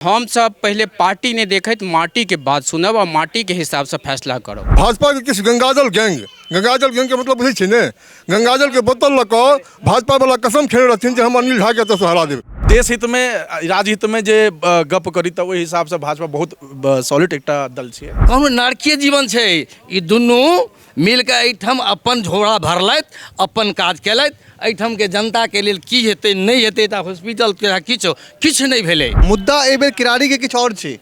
हमसब पहिले पार्टी नहि देखैत माटीके बात सुनब आ माटीके हिसाबसँ फैसला करब भाजपाके किछु गङ्गाजल गैंग गङ्गाजल गैंगके मतलब बुझै छियै ने गङ्गाजलके बोतल लऽ कऽ भाजपावला कसम खेने रहथिन जे हम अनिल झाके एतऽसँ हरा देबै देश हितमे राजहितमे जे गप करी तऽ ओहि हिसाबसँ भाजपा बहुत सॉलिड एकटा दल छियै कहलहुँ नारकीय जीवन छै ई दुनू मिलके एहिठाम अपन झोरा भरलथि अपन काज केलथि एहिठामके जनताके लेल की हेतै नहि हेतै तऽ हॉस्पिटल तथा किछु किछु नहि भेलै मुद्दा एहि बेर किरारीके किछु आओर छै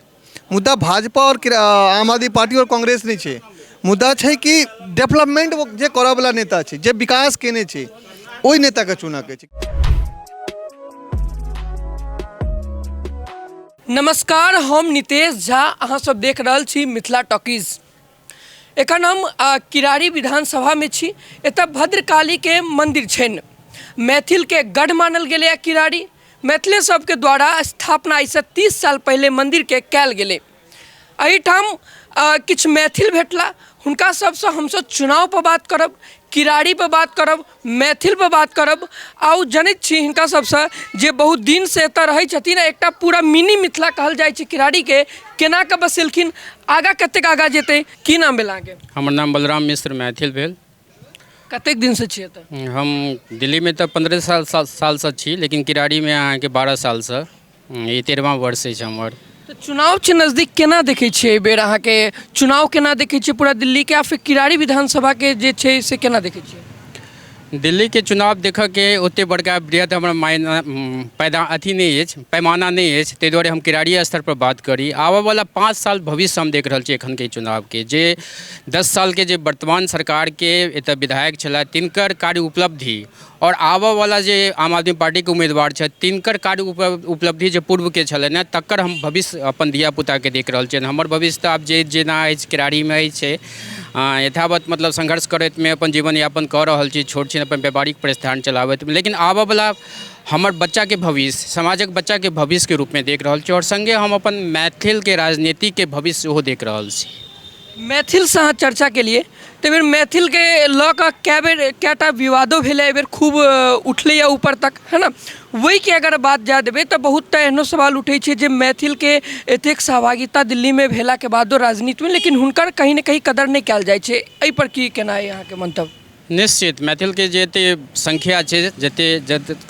मुद्दा भाजपा आओर किरा- आम आदमी पार्टी आओर कांग्रेस नहि छै मुद्दा छै कि डेवलपमेंट ओ जे करऽवला नेता छै जे विकास केने छै ओहि नेताके चुनऽके छै नमस्कार हम नितेश झा अहाँ सब देख रहल छी मिथिला टॉकीज एखन हम आ, किरारी विधानसभा में छी एतऽ भद्रकाली के मंदिर छनि मैथिल के गढ़ मानल गेलै है किरारी मैथिले सबके द्वारा स्थापना एहिसँ तीस साल पहिले मंदिर के कयल गेलै एहिठाम आ, किछु मैथिल भेटला हुनका सबसँ हमसब चुनाव पर बात करब किरारी पर बात करब मैथिल पर बात करब आ ओ जनैत छी हिनका सबसँ जे बहुत दिन से एतऽ रहैत छथिन एकटा पूरा मिनी मिथिला कहल जाइत छै किरारीके केना कऽ बसेलखिन आगाँ कतेक आगाँ जेतै की नाम भेल अहाँके हमर नाम बलराम मिश्र मैथिल भेल कतेक दिन से छियै एतऽ हम दिल्लीमे तऽ पन्द्रह साल सालसँ छी लेकिन किरारीमे अहाँके बारह सालसँ हम्म, ई तेरहवा वर्ष अछि हमर तऽ चुनाव छै नजदीक केना देखै छियै एहि बेर अहाँके चुनाव केना देखै छियै पूरा दिल्लीके आ फिर किरारी विधानसभाके जे छै से केना देखै छियै दिल्लीके चुनाव देखऽके ओते बड़का वृहद हमर मायना उम, पैदा अथी नहि अछि पैमाना नहि अछि ताहि दुआरे हम किरारी स्तर पर बात करी आबऽ वाला पाँच साल भविष्य हम देख रहल छी एखन के चुनावके जे दस सालके जे वर्तमान सरकारके एतऽ विधायक छलथि तिनकर कार्य उपलब्धि आओर आबऽवला जे आम आदमी पार्टीके उम्मीदवार छथि तिनकर कार्य उपलब्धि जे पूर्वके छलनि हँ तकर हम भविष्य अपन धिया पूताके देख रहल छियनि हमर भविष्य तऽ आब जे जेना अछि केरारीमे अछि यथावत मतलब संघर्ष करैतमे अपन जीवन यापन कऽ रहल छी छोट छिन अपन व्यापारिक प्रतिष्ठान चलाबैत लेकिन आबऽवला हमर बच्चाके भविष्य समाजक बच्चाके भविष्यके रूपमे देख रहल छी आओर सङ्गे हम अपन मैथिलके राजनीतिके भविष्य सेहो देख रहल छी मैथिलसँ अहाँ चर्चा केलियै ताहि बेर मैथिलके लऽ कऽ कए बेर कए टा विवादो भेलै एहि बेर खूब उठलैया ऊपर तक है ने ओहिके अगर बात जाय देबै तऽ बहुत टा एहनो सवाल उठै छै जे मैथिलके एतेक सहभागिता दिल्लीमे भेलाके बादो राजनीतिमे लेकिन हुनकर कहीं ने कहीं कदर नहि कयल जाइ छै एहि पर की केनाइ अछि अहाँके मन्तव्य निश्चित मैथिलके जे एते संख्या छै जते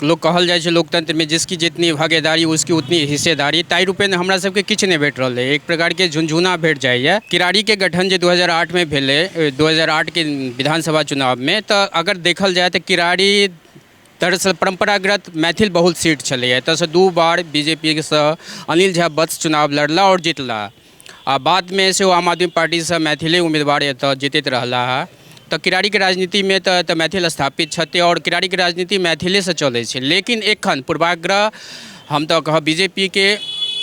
लोक कहल जाइ छै लोकतंत्रमे जिसकी जितनी भागेदारी उसकी उतनी हिस्सेदारी ताहि रूपेण हमरा सबके किछु नहि भेट रहल अइ एक प्रकारके झुनझुना भेट जाइए किरारीके गठन जे दू हजार आठमे भेलै दू हजार आठके विधानसभा चुनावमे तऽ अगर देखल जाइ तऽ किरारी दरअसल परम्परागत मैथिल बहुल सीट छलै एतऽसँ दू बार बी जे पी सँ अनिल झा बत्स चुनाव लड़ला आओर जितला आ बादमे सेहो आम आदमी पार्टीसँ मैथिले उम्मीदवार एतऽ जितैत रहला हँ तऽ किरारीके राजनीतिमे तऽ एतऽ मैथिल स्थापित छथि आओर किरारीके राजनीति मैथिलेसँ चलै छै लेकिन एखन पूर्वाग्रह हम तऽ कहब बीजेपीके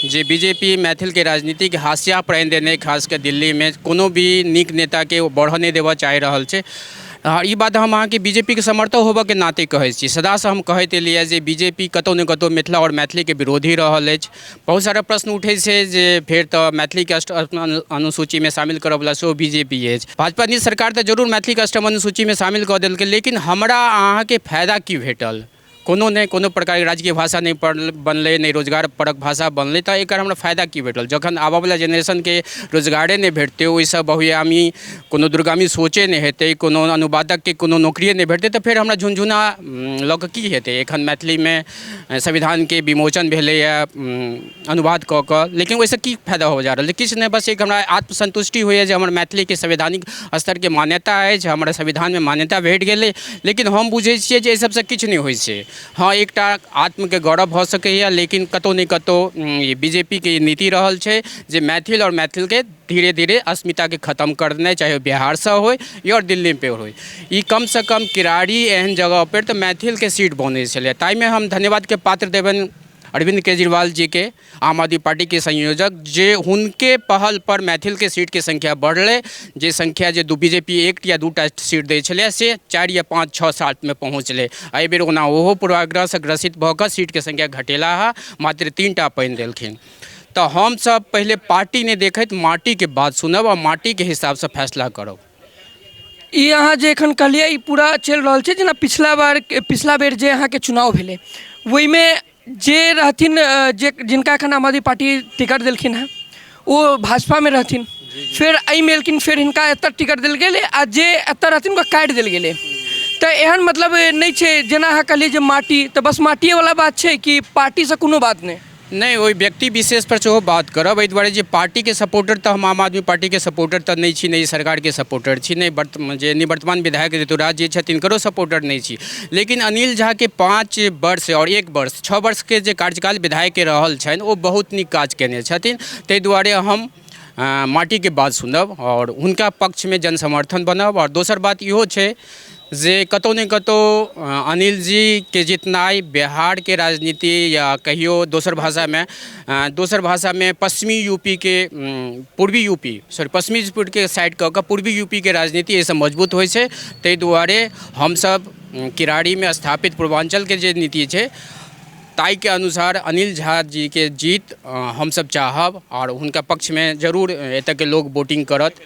जे बीजेपी मैथिलके राजनीतिक हाशिया पर आनि देने खास कऽ दिल्लीमे कोनो भी नीक नेताके ओ बढ़ऽ नहि देबऽ चाहि रहल छै आ ई बात हम अहाँके बीजेपीके समर्थक होबऽके नाते कहै छी सदासँ हम कहैत एलियै हँ जे बीजेपी कतौ ने कतौ मिथिला आओर मैथिलीके विरोधी रहल अछि बहुत सारा प्रश्न उठै छै जे फेर तऽ मैथिलीके अष्टम अनुसूचीमे शामिल करऽ बला सेहो बीजेपी अछि भाजपा नीतीश सरकार तऽ जरूर मैथिलीके अष्टम अनुसूचीमे शामिल कऽ देलकै लेकिन हमरा अहाँके फायदा की भेटल कोनो नहि कोनो प्रकारके राजकीय भाषा नहि पढ़ल बनलै नहि रोजगार परक भाषा बनलै तऽ एकर हमरा फायदा की भेटल जखन आबऽवला जेनरेशनके रोजगारे नहि भेटतै ओइसँ बहुआयामी कोनो दूरगामी सोचे नहि हेतै कोनो अनुवादकके कोनो नौकरिये नहि भेटतै तऽ फेर हमरा झुनझुना लअ कऽ की हेतै एखन मैथिलीमे संविधानके विमोचन भेलैये अनुवाद कऽ कऽ लेकिन ओइसँ की फायदा होवऽ जा रहल छै किछु नहि बस एक हमरा आत्मसन्तुष्टि होइए जे हमर मैथिलीके संवैधानिक स्तरके मान्यता अछि हमरा संविधानमे मान्यता भेट गेलै लेकिन हम बुझै छियै जे अइ सबसँ किछु नहि होइ छै हँ एकटा आत्मके गौरव भऽ सकैये लेकिन कतौ ने कतौ ई बी जे पी के ई नीति रहल छै जे मैथिल आओर मैथिलके धीरे धीरे अस्मिताके खतम करनाइ चाहे ओ बिहारसँ होइ या आओर दिल्लीपर होइ ई कमसँ कम किरारी एहन जगहपर तऽ मैथिलके सीट बनै छलै तैमे हम धन्यवादके पात्र देबनि अरविंद केजरीवाल जी के आम आदमी पार्टी के संयोजक जे हुनके पहल पर मैथिल के सीट के संख्या बढ़ले जे संख्या जे दू बीजेपी एक या दूटा सीट दै छलै से चारि या पाँच छओ सात में पहुँचले एहि बेर ओना ओहो पूर्वाग्रह से ग्रसित भऽ कऽ सीट के संख्या घटेला है मात्र तीन टा पानि देलखिन तऽ हमसब पहिले पार्टी नहि देखैत माटी के बात सुनब आ माटी के हिसाब से फैसला करब ई अहाँ जे एखन कहलियै ई पूरा चलि रहल छै जेना पिछला बार पिछला बेर जे अहाँके चुनाव भेलै ओहिमे जे रहथिन जे जिनका एखन आम आदमी पार्टी टिकट देलखिन हेँ ओ भाजपामे रहथिन फेर एहिमे एलखिन फेर हिनका एतऽ टिकट देल गेलै आ जे एतऽ रहथिन हुनका काटि देल गेलै तऽ एहन मतलब नहि छै जेना अहाँ कहलियै जे माटि तऽ बस माटिएवला बात छै कि पार्टीसँ कोनो बात नहि नहि ओहि व्यक्ति विशेष पर सेहो बात करब एहि दुआरे जे पार्टीके सपोर्टर तऽ हम आम आदमी पार्टीके सपोर्टर तऽ नहि छी नहि सरकारके सपोर्टर छी नहि बर्त जे निवर्तमान विधायक ऋतुराज जे छथि तिनकरो सपोर्टर नहि छी लेकिन अनिल झाके पाँच वर्ष आओर एक वर्ष छओ वर्षके जे कार्यकाल विधायकके रहल छनि ओ बहुत नीक काज कयने छथिन ताहि दुआरे हम अ, माटीके बात सुनब आओर हुनका पक्षमे जनसमर्थन बनब आओर दोसर बात इहो छै जे कतहु ने कतहु अनिल जीके जितनाइ बिहारके राजनीति या कहियो दोसर भाषामे दोसर भाषामे पश्चिमी यू पी के पूर्वी यू पी सॉरी पश्चिमी के साइड कऽ कऽ पूर्वी यू पी के राजनीति एहिसँ मजबूत होइ छै ताहि दुआरे हमसभ किरारीमे स्थापित पूर्वाञ्चलके जे नीति छै ताहिके अनुसार अनिल झा जीके जीत हमसभ चाहब आओर हुनका पक्षमे जरूर एतऽके लोक वोटिंग करत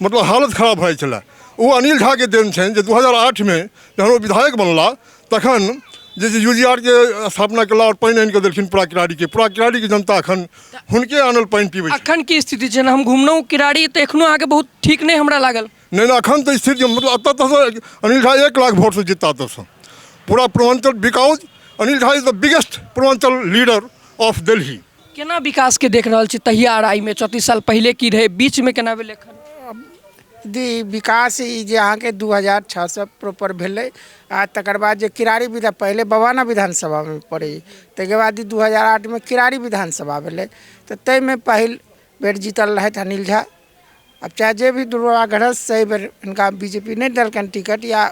मतलब हालत खराब भऽ जाइ छलै ओ अनिल झाके देन छनि जे दू हजार आठमे जहन ओ विधायक बनला तखन जे यू जी आरके स्थापना केला आओर पानि आनिकऽ देलखिन पूरा किराड़ीके पूरा किराड़ीके जनता एखन हुनके आनल पानि पीबै अखन की स्थिति छै हम घुमलहुँ किराड़ी तऽ एखनो अहाँके बहुत ठीक नहि हमरा लागल नहि नहि अखन तऽ स्थिति मतलब एतऽ तक अनिल झा एक लाख वोटसँ जीता एतऽसँ पूरा Purvanchal because Anil Jha is the biggest Purvanchal leader of Delhi केना विकासके देख रहल छी तहिया आर आइमे चौंतीस साल पहिले की रहै बीचमे केना भेलै एखन दी विकास ई जे अहाँके दू हजार छओ सए प्रॉपर भेलै आ तकर बाद जे किरारी विधा पहिले बवाना विधानसभामे पड़ै ताहिके बाद ई दू हजार आठमे किरारी विधानसभा भेलै तऽ ताहिमे पहिल बेर जीतल रहथि अनिल झा आब चाहे जे भी दुर्भाग्यवश छै एहिबेर हिनका बी जे पी नहि देलकनि टिकट या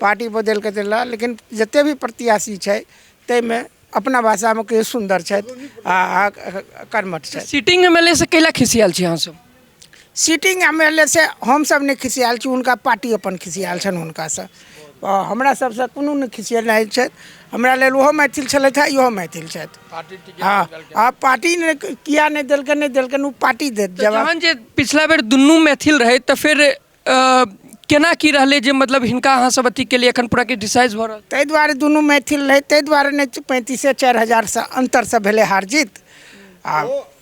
पार्टी बदलि कऽ देला लेकिन जतेक भी प्रत्याशी छै ताहिमे अपना भाषामे कहियौ सुन्दर छथि आ कर्मठ छथि सिटिंग एम एल ए से कैला खिसियाल छी अहाँसभ सिटिंग एम एल ए से हमसभ नहि खिसियाल छी हुनका पार्टी अपन खिसियाल छनि हुनकासँ हमरा सबसँ कोनो नहि खिसियेलथि छथि हमरा लेल ओहो मैथिल छलथि हँ इहो मैथिल छथि हँ हँ पार्टी नहि किए नहि देलकनि नहि देलकनि ओ पार्टी देत जवाब तहन जे पिछला बेर दुनू मैथिल रहै तऽ फेर केना की रहलै जे मतलब हिनका अहाँ सब अथी केलियै एखन पूरा क्रिटिसाइज भऽ रहल ताहि दुआरे दुनू मैथिल रहै ताहि दुआरे नहि पैंतीसे चारि हजारसँ अन्तरसँ भेलै हार जीत आ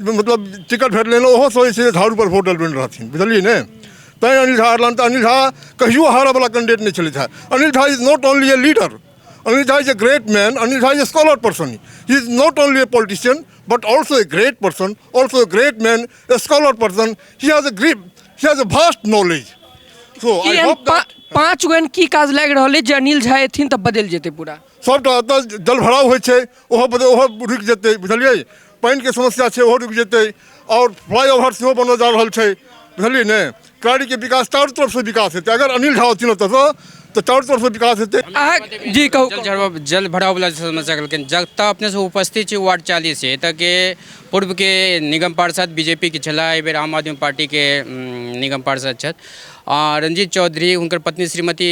मतलब टिकट भेट लेलहुँ ओहो सोचै छै जे झाड़ूपर वोट डलबेने रहथिन बुझलियै ने तैँ अनिल झा हरलनि तऽ अनिल झा कहियो हारऽवला कैंडिडेट नहि छलथि है Anil Jha is not only a leader Anil Jha is a great man Anil Jha is a scholar person he is not only a politician but also a great person also a great man a scholar person he has a grip he has a vast knowledge so I एहन hope पा- पाँच गो एहन की काज लागि रहल अछि जे अनिल झा एथिन तऽ बदलि जेतै पूरा सभटा एतऽ जलभराव होइ छै ओहो बदे ओहो रुकि जेतै बुझलिए पानिके समस्या छै ओहो रुकि जेतै आओर फ्लाइओवर सेहो बनल जा रहल छै बुझलिए ने क्रारीके विकास चारू तरफसँ विकास हेतै अगर अनिल झा अथिन ओतऽसँ तऽ चारू तरफसँ विकास हेतै अहाँ जी कहू जल झड़ब जल भराव वाला जे समस्या कहलखिन जतऽ अपने सब उपस्थित छी वार्ड चालीस छै एतऽ के पूर्वके निगम पार्षद बीजेपीके छलाह एहिबेर आम आदमी पार्टीके उम, निगम पार्षद छथि रंजीत चौधरी हुनकर पत्नी श्रीमती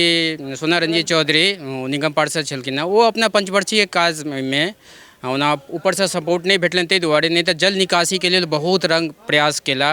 सोना रंजीत चौधरी निगम पार्षद छलखिन हँ ओ अपना पञ्चवर्षीय काजमे ओना ऊपरसँ सपोर्ट नहि भेटलनि ताहि दुआरे नहि तऽ जल निकासीके लेल बहुत रङ्ग प्रयास केला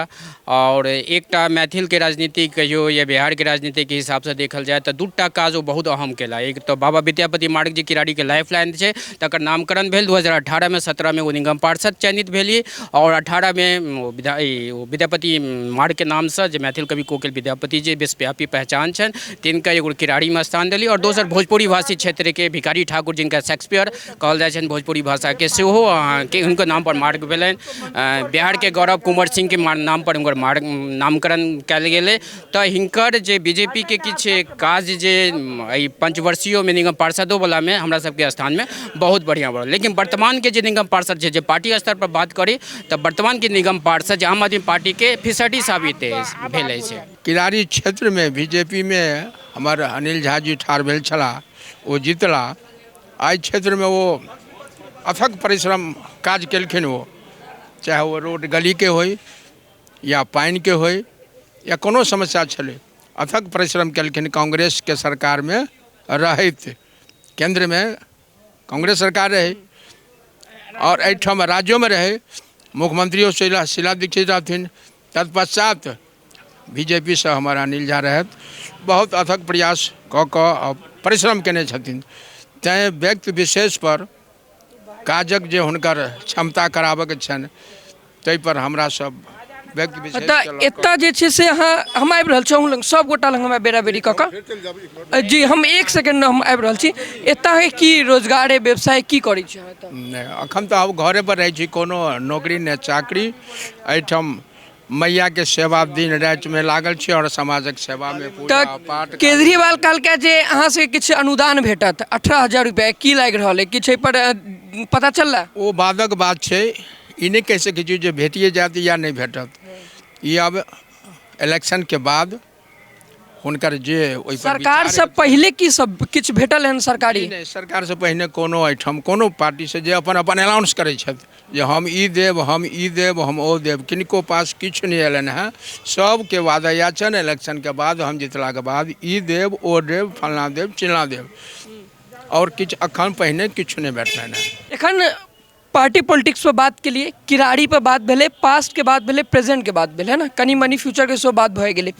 आओर एकटा मैथिलके राजनीति कहियो या बिहारके राजनीतिके हिसाबसँ देखल जाय तऽ दूटा काज ओ बहुत अहम केला एक तऽ बाबा विद्यापति मार्ग जे किरारीके लाइफ लाइन छै तकर नामकरण भेल दू हजार अठारहमे सत्रहमे ओ निगम पार्षद चयनित भेली आओर अठारहमे ओ विद्या ई ओ विद्यापति मार्गके नामसँ जे मैथिल कवि कोकिल विद्यापति जे विश्वव्यापी पहचान छनि तिनका एगो किरारीमे स्थान देली आओर दोसर भोजपुरी भाषी क्षेत्रके भिखारी ठाकुर जिनका शेक्सपियर कहल जाइ छनि भोजपुरी भाषाके सेहो अहाँके हुनकर नामपर मार्ग भेलनि अ, बिहारके गौरव कुंवर सिंहके मा- नामपर हुनकर मार्ग नामकरण कयल गेलै तऽ हिनकर जे बी जे पी के किछु काज जे एहि पञ्चवर्षीय मे निगम पार्षदो बला मे हमरा सबके स्थान मे बहुत बढ़िऑं बढ़ल लेकिन वर्तमान के जे निगम पार्षद छै जे पार्टी स्तर पर बात करी तऽ वर्तमान के निगम पार्षद जे आम आदमी पार्टी के फिसडी साबित अछि भेल अछि किरारी क्षेत्र मे बी जे पी मे हमर अनिल झा जी ठाढ़ भेल छलाह ओ जितला एहि क्षेत्र मे ओ अथक परिश्रम काज केलखिन ओ चाहे ओ रोड गली के होइ या पानिके होइ या कोनो समस्या छलै अथक परिश्रम केलखिन कांग्रेसके सरकारमे रहैत केन्द्रमे कांग्रेस सरकार रहै आओर एहिठाम राज्योमे रहै मुख्यमंत्रियो शीला शीला दीक्षित रहथिन तत्पश्चात बी जे पी सँ हमर अनिल झा रहथि बहुत अथक प्रयास कऽ कऽ परिश्रम कयने छथिन तैँ व्यक्ति विशेषपर काजक जे हुनकर क्षमता कराबऽके छनि ताहिपर हमरा सब व्यक्ति विशेष तऽ केलक। एतऽ जे छै से अहाँ हम आबि रहल छी अहूँ लग सब गोटा लग हमरा बेरा बेरी कऽ कऽ जी हम एक सेकंड हम आबि रहल छी एतऽ अहाँ की रोजगार व्यवसाय की करै छी अहाँ एतऽ नहि एखन तऽ आब घरेपर रहै छी कोनो नौकरी नहि चाकरी एहिठाम मैया के सेवा दिन राति में लागल छी और समाजक सेवा में पूजा तऽ पाठ केजरीवाल कहलकै जे अहाँ से किछु अनुदान भेटत अठारह हजार रुपया की लागि रहल है किछु एहिपर अ, पता चलला ओ बादक बात छै ई नहि कहि सकै छी जे भेटिए जायत या नहि भेटत ई आब इलेक्शन के बाद हुनकर जे ओहि सरकार से पहले की सब किछु भेटल हन सरकारी नहि सरकार से पहिने कोनो एहिठाम कोनो पार्टी से जे अपन अपन अनाउंस करै छथि जे हम ई देब हम ई देब हम ओ देब किनको पास किछु नहि अयलनि हेँ सभके वादा इएह छनि इलेक्शनके बाद हम जितलाके बाद ई देब ओ देब फलना देब चिलना देब आओर किछु अखन पहिने किछु नहि भेटलनि हेँ एखन पार्टी पॉलिटिक्स पर बात के लिए किराड़ी पर बात भेले पास्ट के बात भेले प्रेजेंट के बात भेले है ना कनी मनी फ्यूचर के सेहो बात भए गेले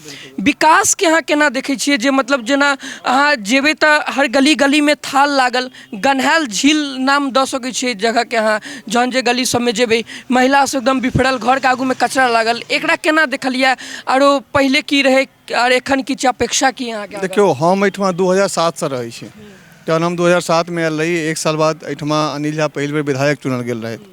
विकास के अहाँ केना देखे छियै जे मतलब जेना अहाँ जेबे तऽ हर गली गली में थाल लागल गन्हायल झील नाम दऽ सकै छियै जगह के अहाँ जहन जे गली सब में जेबे महिला सब एकदम बिफरल घर के आगू में कचरा लागल एकरा केना देखलियै आरो पहिले की रहै कि आओर एखन किछु अपेक्षा की अहाँके आगाँ? देखियौ हम एहिठमा दू हजार सातसँ रहै छी जहन हम दू हजार सातमे आयल रही एक साल बाद एहिठमा अनिल झा पहिल बेर विधायक चुनल गेल रहथि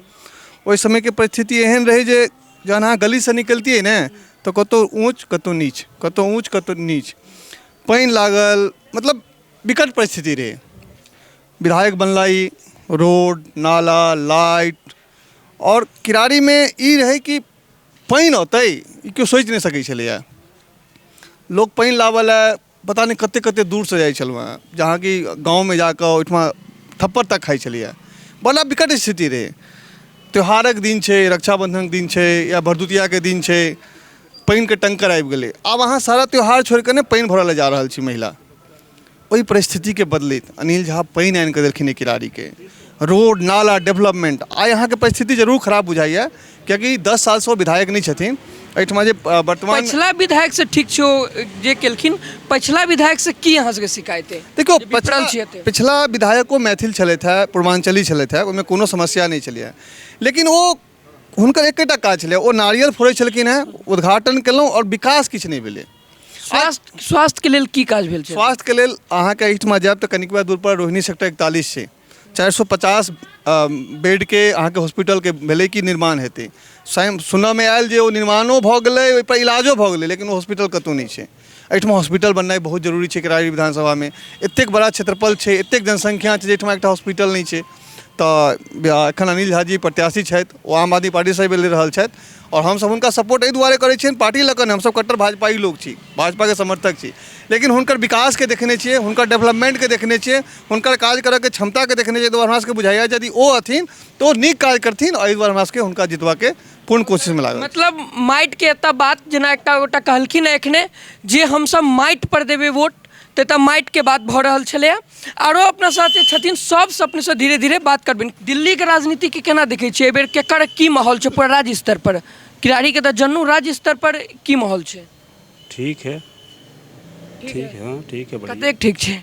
ओहि समयके परिस्थिति एहन रहै जे जहन अहाँ गलीसँ निकलितियै ने तऽ कतहु ऊँच कतहु नीच कतहु ऊँच कतहु नीच पानि लागल मतलब विकट परिस्थिति रहै विधायक बनला ई रोड नाला लाइट आओर किरारीमे ई रहै कि पानि औतै ई केओ सोचि नहि सकै छलैया लोक पानि लाबऽ लए पता नहि कते कते दूर सऽ जाइ छलहुॅं हँ जहाँ कि गाँवमे जाकऽ ओहिठमा थप्पड़ तक खाइ छलैया बड़ा विकट स्थिति रहै त्यौहारक दिन छै रक्षाबन्धनके दिन छै या भरदुतियाके दिन छै पानिके टैंकर आबि गेलै आब अहाँ सारा त्यौहार छोड़िके ने पानि भरऽ लए जा रहल छी महिला ओहि परिस्थितिके बदलैत अनिल झा पानि आनिके देलखिन एहि किरारीके रोड नाला डेवलपमेन्ट आइ अहाँके परिस्थिति जरूर खराब बुझाइए कियाकि दस सालसँ ओ विधायक नहि छथिन एहिठमा जे अ, वर्तमान पछिला विधायक से ठीक छै ओ जे केलखिन पछिला विधायक से की अहाँ सबके शिकायत अइ देखियौ जे विपरल पछिला छियै एते। पछिला विधायको मैथिल छलथि है पूर्वांचली छलथि है ओहिमे कोनो समस्या नहि छलै है लेकिन ओ हुनकर एकेटा काज छलै ओ नारियल फोड़ै छलखिन हेँ उद्घाटन केलहुँ आओर विकास किछु नहि भेलै स्वास्थ्य स्वास्थ्यके लेल की काज भेल छै स्वास्थ्यके लेल अहाँके एहिठमा जायब तऽ कनिकबा दूरपर रोहिणी सेक्टर इकतालीस छै चारि सए पचास बेडके अहाँके हॉस्पिटलके भेलै कि निर्माण हेतै स्वयं सुनऽमे आयल जे ओ निर्माणो भऽ गेलै ओहिपर इलाजो भऽ गेलै लेकिन ओ हॉस्पिटल कतहु नहि छै एहिठाम हॉस्पिटल बननाइ बहुत जरूरी छै करारी विधानसभामे एतेक बड़ा क्षेत्रफल छै एतेक जनसंख्या छै जाहिठाम एकटा हॉस्पिटल नहि छै तऽ एखन अनिल झा जी प्रत्याशी छथि ओ आम आदमी पार्टीसँ एहिबेर लड़ि रहल छथि आओर हमसब हुनका सपोर्ट एहि दुआरे करै छिअनि पार्टी लऽ कऽ नहि हमसब कट्टर भाजपाइ लोक छी भाजपाके समर्थक छी लेकिन हुनकर विकासके देखने छिए हुनकर डेवलपमेन्टके देखने छिए हुनकर काज करैके क्षमताके देखने छिए ताहि दुआरे हमरासबके बुझाइए यदि ओ अथिन तऽ ओ नीक काज करथिन एहि दुआरे हमरासबके हुनका जितबैके कोन कोशिशमे लागल मतलब माटिके एतऽ बात जेना एकटा गोटा कहलखिन हँ एखने जे हमसब माटि पर देबै वोट तऽ एतऽ माटिके बात भऽ रहल छलैया आरो अपना साथ जे छथिन सबसँ अपनेसँ धीरे धीरे बात करबनि दिल्लीके राजनीतिके केना देखैत छियै एहि बेर केकर की माहौल छै पूरा राज्य स्तर पर किरारीके तऽ जनू राज्य स्तर पर की माहौल छै ठीक है ठीक है हँ ठीक है बढ़िया कतेक ठीक छै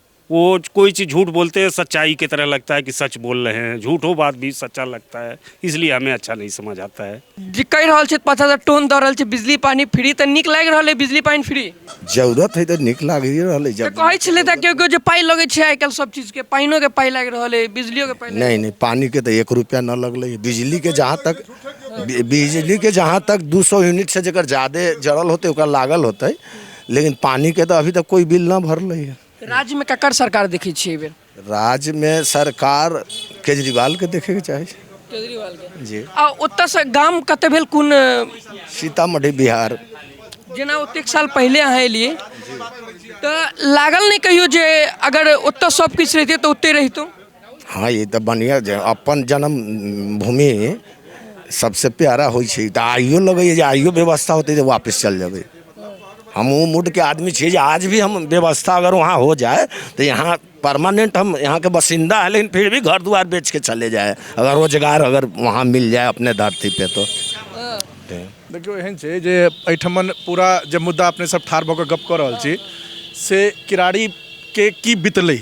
वो कोई चीज़ झूठ बोलते हैं सच्चाई की तरह लगता है कि सच बोल रहे हैं झूठो बात भी सच्चा लगता है इसलिए हमें अच्छा नहीं समझ आता है जे कहि रहल छथि पाँच हजार टोन दऽ रहल छै बिजली पानी फ्री तऽ नीक लागि रहल अइ बिजली पानी फ्री जरूरत है तो निक लागे रहले तऽ जब कहै छलै तऽ केओ केओ जे पाइ लगै छै आइ काल्हि सब चीजके पानियोके पाइ लागि रहल अइ बिजलियोके पाइ लागि नहीं नहीं पानी के तो एक रुपया न लगले है। बिजली के जहाँ तक बि- बिजली के जहाँ तक दू सौ यूनिट से जकर ज्यादा जड़ल होते ओकर लागल होते लेकिन पानिके तऽ अभी तक कोइ बिल नहि भरलै हँ तऽ राज्यमे ककर सरकार देखै छियै एहि बेर राज्यमे सरकार केजरीवालके देखैके चाही केजरीवालके जी आ ओतयसँ गाम कतय भेल कोन सीतामढ़ी बिहार जेना ओतेक साल पहिले अहाँ एलियै तऽ लागल नहि कहियो जे अगर ओतय सभकिछु रहितै तऽ ओतहि रहितहुँ हँ ई तऽ बढ़िआँ जे अपन जनम भूमि सबसँ प्यारा होइ छै तऽ आइयो लगैये जे आइयो व्यवस्था होतै तऽ वापिस चलि जेबै हम ओ मूडके आदमी छियै जे आज भी हम व्यवस्था अगर वहाँ हो जाइ तऽ यहाँ परमानेन्ट हम यहाँके बसिन्दा है लेकिन फिर भी घर दुआरि बेचके चले जाइ अगर रोजगार अगर वहाँ मिल जाइ अपने धरती पे तो देखियौ एहन छै जे एहिठमन पूरा जे मुद्दा अपने सब ठाढ़ भऽ कऽ गप्प कऽ रहल छी से किरारीके की बितलै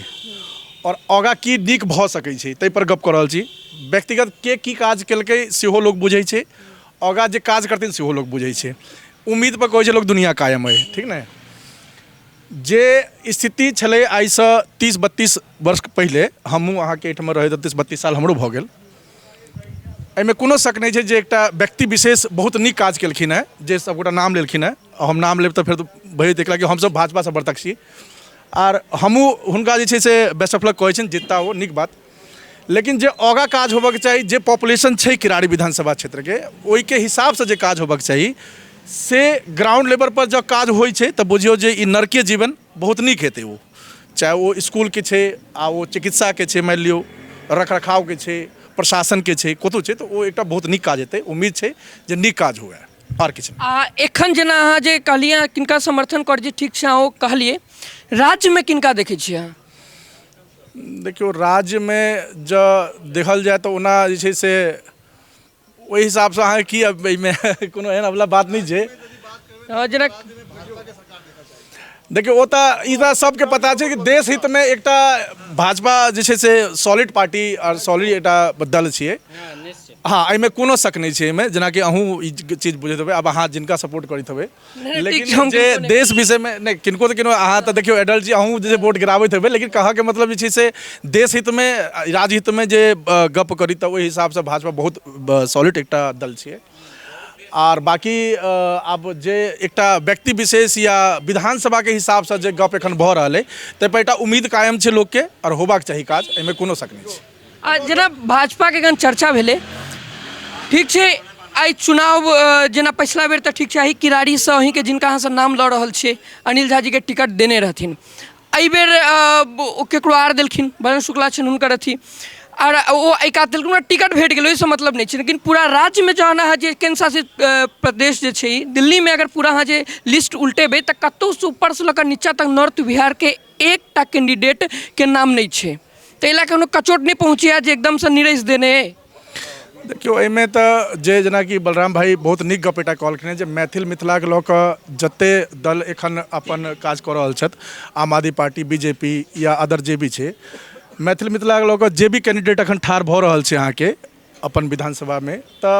आओर आगाँ की नीक भऽ सकै छै ताहिपर गप्प कऽ रहल छी व्यक्तिगत के की काज केलकै सेहो लोक बुझै छै आगाँ जे काज करथिन सेहो लोक बुझै छै उम्मीदपर कहै छै लोक दुनिआँ कायम अइ ठीक ने जे स्थिति छलै आइसँ तीस बत्तीस वर्ष पहिले हमहूँ अहाँके एहिठाम रहैत तीस बत्तीस साल हमरो भऽ गेल एहिमे कोनो शक नहि छै जे एकटा व्यक्ति विशेष बहुत नीक काज केलखिन हेँ जे सभगोटा नाम लेलखिन हेँ हम नाम लेब तऽ फेर भरि देखला कि हमसभ भाजपासँ बरतक छी आर हमहूँ हुनका जे छै से बेस्ट ऑफ लक कहै छनि जितता ओ नीक बात लेकिन जे आगाँ काज होबऽके चाही जे पॉपुलेशन छै किरारी विधानसभा क्षेत्रके ओहिके हिसाबसँ जे काज होबऽके चाही से ग्राउंड लेवल पर जँ काज होइ छै तऽ बुझियौ जे ई नरके जीवन बहुत नीक हेतै ओ चाहे ओ इसकुलके छै आ ओ चिकित्साके छै मानि लियौ रख रखावके छै प्रशासनके छै कतहुँ छै तऽ ओ एकटा बहुत नीक काज हेतै उम्मीद छै जे नीक काज हुए आओर किछु आ एखन जेना अहाँ जे कहलियै किनका समर्थन करै छी ठीक छै अहाँ ओ कहलियै राज्यमे किनका देखै छियै अहाँ देखियौ राज्यमे जँ देखल जाय तऽ ओना जे छै से ओहि हिसाबसँ अहाँके की एहिमे कोनो एहन अगिला बात नहि छै जेना देखियौ ओ तऽ ई तऽ सबके पता छै कि देश हितमे एकटा भाजपा जे छै से सॉलिड पार्टी आओर सॉलिड एकटा दल छियै हँ एहिमे कोनो शक नहि छै एहिमे जेनाकि अहूँ ई चीज बुझैत हेबै आब अहाँ जिनका सपोर्ट करैत हेबै ठीक छै, लेकिन हम जे किनको नहि देश विषयमे नहि किनको तऽ किनो अहाँ तऽ देखियौ एडल्ट छी अहूँ जे छै वोट गिराबैत हेबै लेकिन कहऽके मतलब जे छै से देश हितमे राजहितमे जे अ, गप्प करी तऽ ओहि हिसाबसँ भाजपा बहुत सॉलिड एकटा दल छियै आर बाकी आब जे एकटा व्यक्ति विशेष या विधानसभाके हिसाबसँ जे गप एखन भऽ रहल अइ ताहिपर एकटा उम्मीद कायम छै लोकके आओर होबाक चाही काज एहिमे कोनो शक नहि छै आ जेना भाजपाके एखन चर्चा भेलै ठीक छै आइ चुनाव अ, जेना पछिला बेर तऽ ठीक छै आइ किरारीसँ अहीँके जिनका अहाँसँ नाम लऽ रहल छियै अनिल झाजीके टिकट देने रहथिन एहि बेर ओ ककरो आओर देलखिन वरुण शुक्ला छनि हुनकर अथी आओर ओ एहि कात देलखिन हुनका टिकट भेटि गेलै ओहिसँ मतलब नहि छै लेकिन पूरा राज्यमे जहन अहाँ जे केन्द्र शासित प्रदेश जे छै ई दिल्लीमे अगर पूरा अहाँ जे लिस्ट उलटेबै तऽ कतहुसँ उपरसँ लऽ कऽ निचाँ तक नॉर्थ बिहारके एकटा कैन्डिडेटके नाम नहि छै ताहि लऽ कऽ कचोट नहि पहुँचैए जे एकदमसँ निरसि देने अइ देखियौ एहिमे तऽ जे जेनाकि बलराम भाई बहुत नीक गप एकटा कहलखिन हेँ जे मैथिल मिथिलाके लऽ कऽ जते दल एखन अपन काज कऽ रहल छथि Aam Aadmi party B J P या अदर जे भी छै मैथिल मिथिलाके लऽ कऽ जे भी कैंडिडेट एखन ठाढ़ भऽ रहल छै अहाँके अपन विधानसभामे तऽ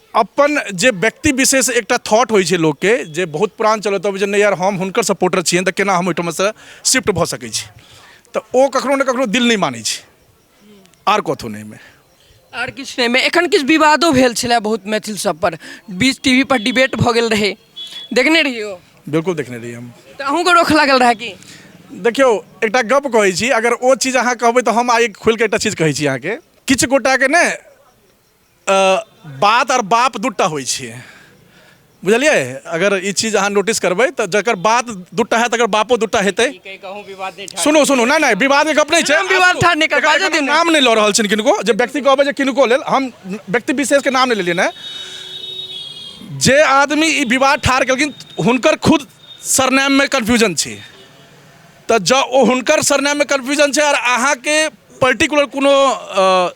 अपन जे व्यक्ति विशेष एकटा थॉट होइ छै लोकके जे बहुत पुरान चलत अब जे नहि यार हम हुनकर सपोर्टर छियनि तऽ केना हम ओहिठामसँ शिफ्ट भऽ सकै छी तऽ ओ कखनो ने कखनो दिल नहि मानै छै आर कथो नहि एहिमे आर किछु नहि एहिमे एखन किछु विवादो भेल छलए बहुत मैथिल सब पर बीच टीवी पर डिबेट भऽ गेल रहै देखने रहियो बिल्कुल देखने रही हम तऽ अहूँके रोक लागल रहए कि देखियौ एकटा गप कहै छी अगर ओ चीज अहाँ कहबै तऽ हम आइ खोलि कऽ एकटा चीज कहै छी अहाँके किछु गोटाके ने बात आओर बाप दू टा होइ छै बुझलियै अगर ई चीज अहाँ नोटिस करबै तऽ जकर बात दू टा है तकर बापो दू टा हेतै सुनू सुनू नहि नहि विवादके गप नहि छै विवाद ठाढ़ नहि कर बाजऽ दियौ ने। नाम नहि लऽ रहल छिन किनको जे व्यक्ति कहबै जे किनको लेल हम व्यक्ति विशेषके नाम नहि लेलियै ने जे आदमी ई विवाद ठाढ़ केलखिन हुनकर खुद सरनेममे कन्फ्यूजन छै तऽ जँ ओ हुनकर सरनेममे कन्फ्यूजन छै आओर अहाँके पर्टिकुलर कोनो अ,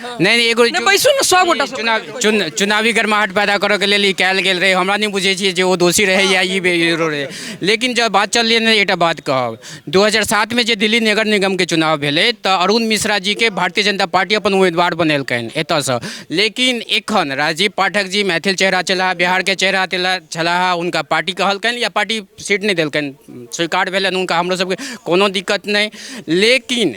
नहि नहि एगो नहि बैसू ने सब गोटा चुनाव चुन चुनावी गर्माहट पैदा करऽके लेल ई कयल गेल रहै हमरा नहि बुझै छियै जे ओ दोषी रहै या ई बे- हीरो रहै लेकिन जब बात चललै ने एकटा बात कहब 2007 में जे दिल्ली नगर निगम के चुनाव भेलै तऽ अरुण मिश्रा जी के भारतीय जनता पार्टी अपन उम्मीदवार बनेलकनि एतऽसँ लेकिन एखन राजीव पाठक जी मैथिल चेहरा छलाह बिहार के चेहरा तेला- छलाह हुनका पार्टी कहलकनि या पार्टी सीट नहि देलकनि स्वीकार भेलनि हुनका हमरो सबके कोनो दिक्कत नहि लेकिन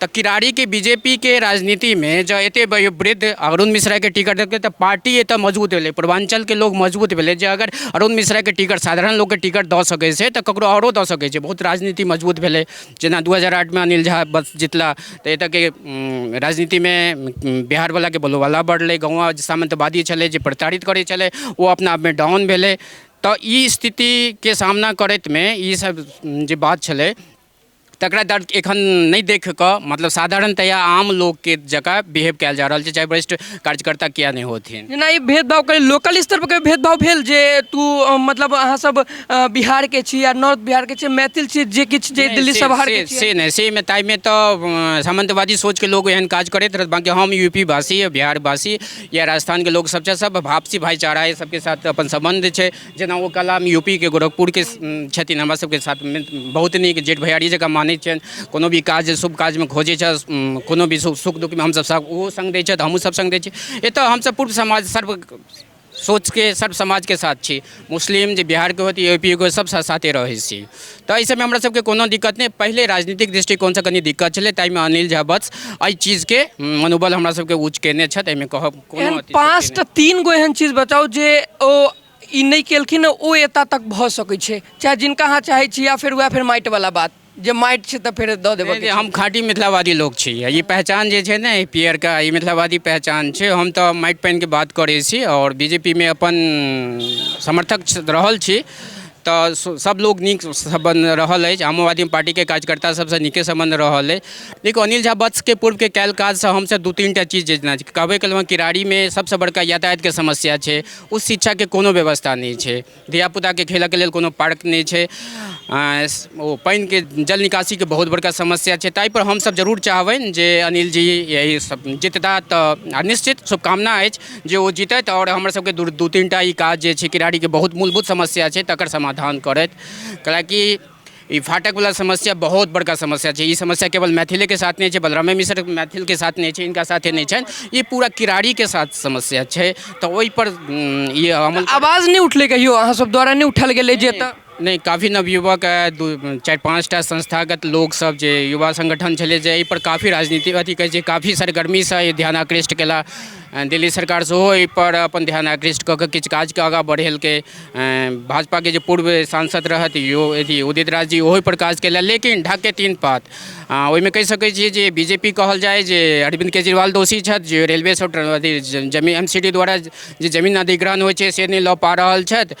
तऽ किरारीके बी जे पी के राजनीतिमे जँ एते वयोवृद्ध अरुण मिश्राके टिकट देलकै तऽ पार्टी एतऽ मजबूत भेलै पूर्वाञ्चलके लोक मजबूत भेलै जे अगर अरुण मिश्राके टिकट साधारण लोकके टिकट दऽ सकै छै तऽ ककरो आओरो दऽ सकै छै बहुत राजनीति मजबूत भेलै जेना दू हजार आठमे अनिल झा बस जितला तऽ एतऽके राजनीतिमे बिहारवलाके बोलबाला बढ़लै गाँव जे सामन्तवादी छलै जे प्रताड़ित करै छलै ओ अपना आपमे डाउन भेलै तऽ ई स्थितिके सामना करैतमे ई सब जे बात छलै तकरा दर एखन नहि देख कऽ मतलब साधारणतया आम लोकके जकाँ बिहेव कयल जा रहल छै चाहे वरिष्ठ कार्यकर्ता किए नहि होथिन जेना ई भेदभाव कही लोकल स्तर पर भेदभाव भेल जे तू अ, मतलब अहाँ सब अ, बिहार के छी या नॉर्थ बिहार के छी मैथिल छी जे किछु जे दिल्ली से- सब बाहर के से- छी से नहि से मे ताहिमे तऽ अ, सामंतवादी सोचके लोग एहन काज करैत रहत बाँकी हम यूपी वासी बिहार वासी या राजस्थानके लोग सब छै सब आपसी भाईचारा एहि सबके साथ अपन सम्बन्ध छै जेना ओ कलाम यूपीके गोरखपुरके छथिन हमरा सबके साथ बहुत नीक जेठ भैयारी जकाँ मानै छनि कोनो भी काज शुभ काजमे खोजै छथि कोनो भी सुख दुखमे हमसब सब ओहो सङ्ग दै छथि हमहूँ सब सङ्ग दै छी एतऽ हमसब पूर्व समाज सर्व सोचके सर्व समाजके साथ छी मुस्लिम जे बिहारके होत यू पी के सब साथे रहै छी तऽ एहि सबमे हमरा सबके कोनो दिक्कत नहि पहिले राजनीतिक दृष्टिकोणसँ कनी दिक्कत छलै ताहिमे अनिल झा बस एहि चीजके मनोबल हमरा सबके ऊँच कयने छथि एहिमे कहब एहन पाँचटा तीन गो एहन चीज बताउ जे ओ ई नहि केलखिन ओ एतऽ तक भऽ सकै छै चाहे जिनका अहाँ चाहै छी या फेर वएह फेर माटि वाला बात जे माटि छै तऽ फेर दऽ देबऽ के हम खाँटी मिथिलावादी लोक छी ई पहचान जे छै ने ई पियरका ई मिथिलावादी पहचान छै हम तऽ माटि पानिके बात करै छी आओर बी जे पी मे अपन समर्थक रहल छी तऽ सब लोग नीक सम्बन्ध रहल अछि आमो आदमी पार्टीके कार्यकर्ता सबसँ नीके सम्बन्ध रहल अछि देखू अनिल झा वत्सके पूर्वके कयल काजसँ हमसब दू तीनटा चीज जे जेना कहबे कयलहुँ हँ किरारीमे सबसँ बड़का यातायातके समस्या छै उच्च शिक्षाके कोनो व्यवस्था नहि छै धिया पूताके खेलऽके लेल कोनो पार्क नहि छै ओ पानिके जल निकासीके बहुत बड़का समस्या छै तैपर हमसब जरूर चाहबनि जे अनिल जी यही सब जितता तऽ आओर निश्चित शुभकामना अछि जे ओ जीतथि आओर हमर सबके दू दू तीन टा ई काज जे छै किरारीके बहुत मूलभूत समस्या छै तकर समाधान करथि कैलाकि ई फाटकवला समस्या बहुत बड़का समस्या छै ई समस्या केवल मैथिलेके साथ नहि छै बलरामे मिसर मैथिलके साथ नहि छै हिनका साथे नहि छनि ई पूरा किरारीके साथ समस्या छै तऽ ओहिपर ई अमल आवाज नहि उठलै कहियो अहाँ सब द्वारा नहि उठायल गेलै जे एतऽ नहि काफी नवयुवक चारि पाँच टा संस्थागत लोकसभ जे युवा संगठन छलै जे एहिपर काफी राजनीति अथी कहै छै काफी सरगर्मीसँ ई ध्यान आकृष्ट केला दिल्ली सरकार सेहो एहिपर अपन ध्यान आकृष्ट कऽ कऽ किछु काजके आगाँ बढ़ेलकै भाजपाके जे पूर्व सांसद रहथि यो अथी उदित राज जी ओहोपर काज केला लेकिन ढाकके तीन पात आ ओहिमे कहि सकै छियै जे बी जे पी कहल जाय जे अरविन्द केजरीवाल दोषी छथि जे रेलवे सब अथी जमीन एम सी डी द्वारा जे जमीन अधिग्रहण होइ छै से नहि लऽ पा रहल छथि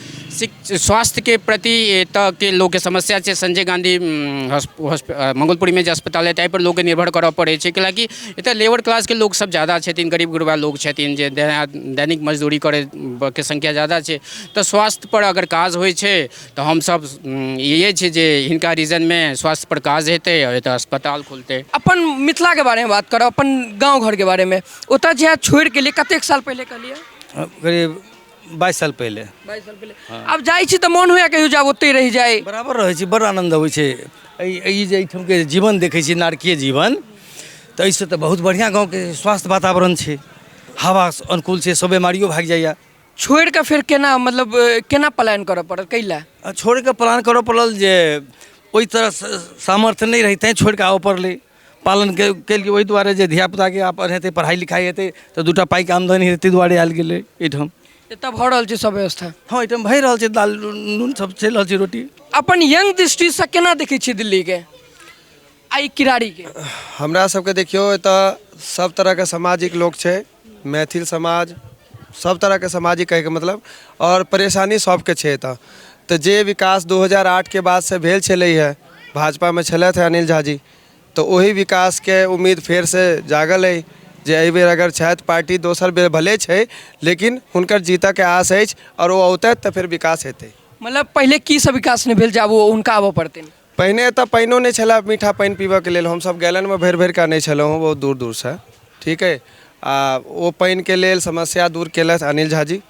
स्वास्थ्यके प्रति एतऽके लोकके समस्या छै संजय गाँधी मंगलपुरीमे जे अस्पताल अइ ताहिपर लोकके निर्भर करऽ पड़ै छै कैला कि एतऽ लेबर क्लासके लोक सब जादा छथिन गरीब गुरबा लोक छथिन जे दैनिक मजदूरी करैके संख्या जादा छै तऽ स्वास्थ्यपर अगर काज होइ छै तऽ हमसब इएह छै जे हिनका रीजनमे स्वास्थ्यपर काज हेतै आओर एतऽ अस्पताल खुलतै अपन मिथिलाके बारेमे बात करऽ अपन गाँव घरके बारेमे ओतऽ जे छोड़िके अएलिए कतेक साल पहिले कहलिए करीब बाइस साल पहिले बाइस साल पहिले आब जाइ छी तऽ मोन होइया कहियो जाब ओतहि रहि जाइ बराबर रहै छी बड़ आनन्द अबै छै एहि एहि जे एहिठामके जीवन देखै छी नारकीय जीवन तऽ एहिसँ तऽ बहुत बढ़िआँ गाँवके स्वास्थ्य वातावरण छै हवा अनुकूल छै सब बेमारियो भागि जाइए छोड़ि कऽ फेर केना मतलब अ, केना पलायन करऽ पड़त कै लए आ छोड़ि कऽ प्लान करऽ पड़ल जे ओहि तरह स- सामर्थ्य नहि रही तैँ छोड़ि कऽ आबऽ पड़लै पालन के केलकै ओहि दुआरे जे धियापुताके आब पढ़ेतै पढ़ाइ लिखाइ हेतै तऽ दूटा पाइके आमदनी हेतै ताहि दुआरे आयल गेलै एहिठाम एतऽ भऽ रहल छै सब व्यवस्था हँ एहिठाम भए रहल छै दालि नून सब चलि रहल छै रोटी अपन यंग दृष्टिसँ केना देखै छियै दिल्लीके आ ई किरारीके हमरा सबके देखियौ एतऽ सब तरहके सामाजिक लोक छै मैथिल समाज सब तरह के समाज ही कहे के मतलब और परेशानी सबके छै एतऽ तऽ जे विकास 2008 के बाद से भेल छलै है भाजपा में छलथि है अनिल झा जी तऽ ओही विकास के उम्मीद फेर से जागल है जे एहि बेर अगर छथि पार्टी दोसर बेर भले छै लेकिन हुनकर जीतऽ के आस अछि और ओ औतथि तऽ फेर विकास हेतै मतलब पहिले की सब विकास नहि भेल जे आब ओ हुनका आबऽ पड़तनि पहिने एतऽ पानिओ नहि छलै मीठा पानि पीबऽके लेल हमसब गैलनमे भरि भरिकऽ आनै छलहुँ हँ बहुत दूर दूरसँ ठीक अइ आओर ओ पानिके लेल समस्या दूर केलथि अनिल झा जी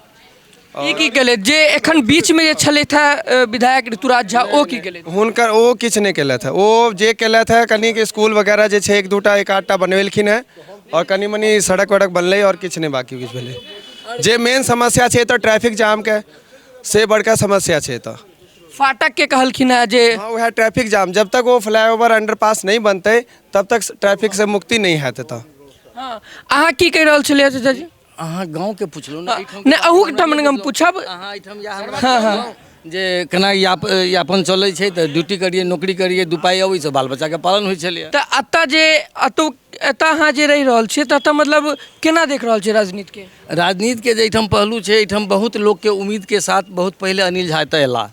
ई की केलथि जे एखन बीचमे जे छलथि हँ विधायक ऋतुराज झा ओ की केलथि हुनकर ओ किछु नहि केलथि हँ ओ जे केलथि हँ कनिक इसकुल वगैरह जे छै एक दू टा एक आध टा बनबेलखिन हँ आओर कनि मनि सड़क वड़क बनलै आओर किछु नहि बाँकी किछु भेलै जे मेन समस्या छै एतऽ ट्रैफिक जामके से बड़का समस्या छै एतऽ फाटक के कहलखिन है जे हाँ वह ट्रैफिक जाम जब तक वो फ्लाईओवर अंडरपास नहीं बनते तब तक ट्रैफिक से मुक्ति नहीं है तो हाँ अहाँ की कहि रहल छलियै चाचा जी अहाँ गाँवके पुछलहुँ ने एहिठाम नहि अहूँ ठाम हम पूछब अहाँ एहिठाम या हमरा हाँ, हाँ। कहलहुँ जे केना याप यापन चलै छै तऽ ड्यूटी करियै नौकरी करियै दू पाइ अबै छै बाल बच्चाके पालन होइ छलैए तऽ एतऽ जे एतौ एतऽ अहाँ जे रहि रहल छियै तऽ एतऽ मतलब केना देख रहल छियै राजनीतिके राजनीतिके जे एहिठाम पहलू छै एहिठाम बहुत लोकके उम्मीदके साथ बहुत पहिले अनिल झा एतऽ अयला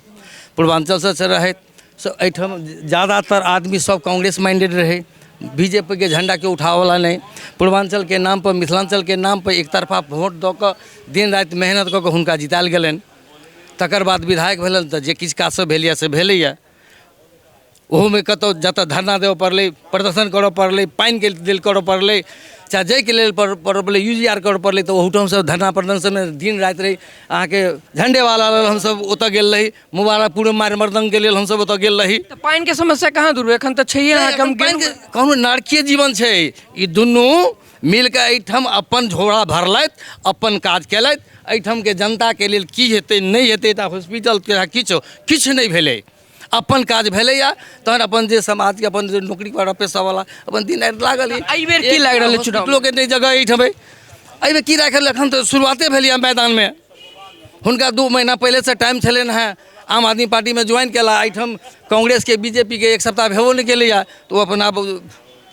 पूर्वाञ्चलसँ से रहथि से एहिठाम जादातर आदमी सब कांग्रेस माइण्डेड रहै बी जे पी के झण्डाके उठाबऽवला नहि पूर्वाञ्चलके नामपर मिथिलाञ्चलके नामपर एकतरफा वोट दऽ कऽ दिन राति मेहनत कऽ कऽ हुनका जितायल गेलनि तकर बाद विधायक भेलनि तऽ जे किछु काज सब भेल यऽ से भेलैये ओहोमे कतहु जतऽ धरना देबऽ पड़लै प्रदर्शन करऽ पड़लै पानिके लेल करऽ पड़लै चाहे जाहिके लेल करऽ पड़लै यू जी आर करऽ पड़लै तऽ ओहूठाम हमसभ धरना प्रदर्शनमे दिन राति रही अहाँके झण्डेवाला लेल हमसभ ओतऽ गेल रही मुबारकपुरमे मारि मरदङ्गके लेल हमसभ ओतऽ गेल रही तऽ पानिके समस्या कहाँ दूर भेल एखन तऽ छैहे अहाँके हम पानिके गेलहुँ कोनो नारकीय जीवन छै ई दुनू मिल कऽ एहिठाम अपन झोरा भरलथि अपन काज केलथि एहिठामके जनताके लेल की हेतै नहि हेतै तऽ हॉस्पिटल चाहे किछु किछु नहि भेलै अपन काज भेलैए तहन अपन जे समाजके अपन जे नौकरी पर पैसावला अपन दिन राति लागल अछि। एहि बेर की लागि रहल अछि चुनाव? हॉस्पिटलोके नहि जगह एहिठाम अइ। एहिमे की राखल एखन तऽ शुरुआते भेलैए मैदानमे हुनका दू महीना पहिलेसँ टाइम छलनि हेँ आम आदमी पार्टीमे ज्वाइन केला एहिठाम कांग्रेसके बीजेपीके एक सप्ताह भेबो नहि केलैए तऽ ओ अपन आब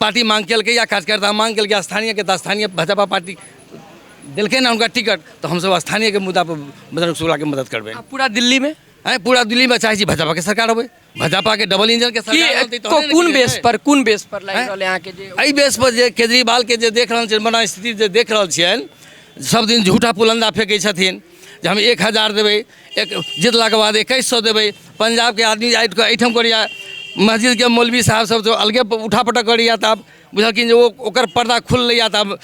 पार्टी मांग केलकै या कार्यकर्ता मांग केलकै स्थानीयके तऽ स्थानीय भाजपा पार्टी देलकै ने हुनका टिकट तऽ हमसभ स्थानीयके मुद्दा पर बजरंग शुक्लाके मदद करबै आ पूरा दिल्लीमे आँय पूरा दिल्लीमे चाहै छी भाजपाके सरकार अबै भाजपाके डबल इंजनके की सरकार अनतै को- तहने ने कोन किछु बेस हेतै। पर कोन बेस पर लागि आँय? रहल है अहाँके जे एहि बेस पर जे केजरीवालके जे देख रहल छियनि मना स्थिति जे देख रहल छियनि सब दिन झूठा पुलंदा फेंकै छथिन जे हम एक हजार देबै एक जितलाके बाद एकैस सए देबै पंजाबके आदमी आबि कऽ एहिठाम करैया मस्जिदके मौलवी साहब सब तऽ अलगे उठा पटक करैया तऽ आब बुझलखिन जे ओ ओकर पर्दा खुललैया तऽ आब